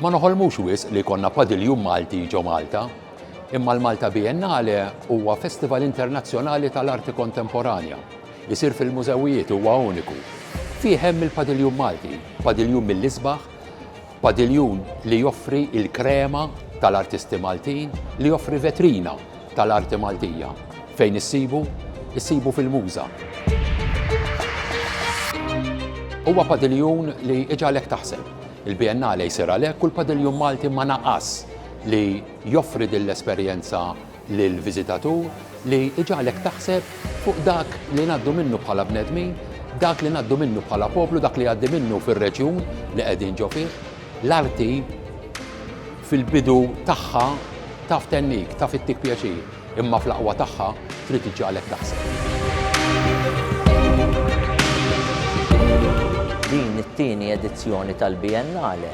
Ma noħolmux wisq li jkollna padiljun Malti ġo Malta, imma l-Malta Biennale huwa festival internazzjonali tal-arti kontemporanja. Isir fil-mużewijiet, huwa uniku. Fih hemm il-padiljun Malti, padiljun mill-isbaħ, Padiljun li joffri l-krema tal-artisti Maltin li joffri vetrina tal-arti Maltija. Fejn issibu? Issibu fil-Muża. Huwa padiljun li iġagħlek taħseb. Il-Biennale jsir għalhekk u l-Padiljun Malti ma naqas li joffri din l-esperjenza lill-viżitatur li jġagħlek taħseb fuq dak li ngħaddu minnu bħala bnedmin, dak li ngħaddu minnu bħala poplu, dak li jgħaddi minnu fir-reġjun li qegħdin ġo fih. L-arti fil-bidu tagħha taf tennik, taf ittik pjaċir, imma fl-aqwa tagħha trid iġġagħlek taħseb. Din it-tieni edizzjoni tal-Biennale,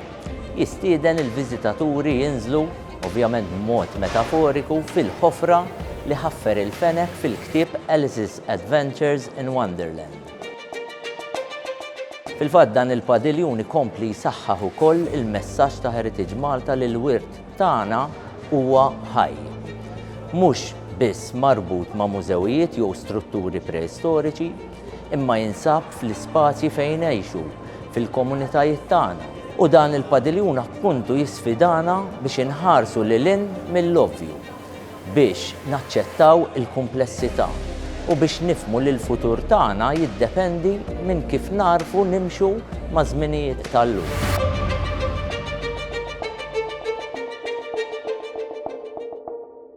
Jistieden lill-viżitaturi jinżlu, ovvjament b'mod metaforiku, fil-ħofra li ħaffer il-fenek fil-ktieb Alice's Adventures in Wonderland. Fil-fatt dan il-padiljun ikompli jsaħħaħ ukoll il-messaġġ ta' Heritage Malta li l-wirt tagħna huwa ħaj. Mhux biss marbut ma' mużewijiet jew strutturi preistoriċi, imma jinsab fl-ispazji fejn ngħixu, fil-komunitajiet tagħna. U dan il-padiljun appuntu jisfidana biex inħarsu lil hinn mill-ovvju, biex naċċettaw il-kumplessità u biex nifhmu li l-futur tagħna jiddependi minn kif nagħrfu nimxu maż-żminijiet tal-lum.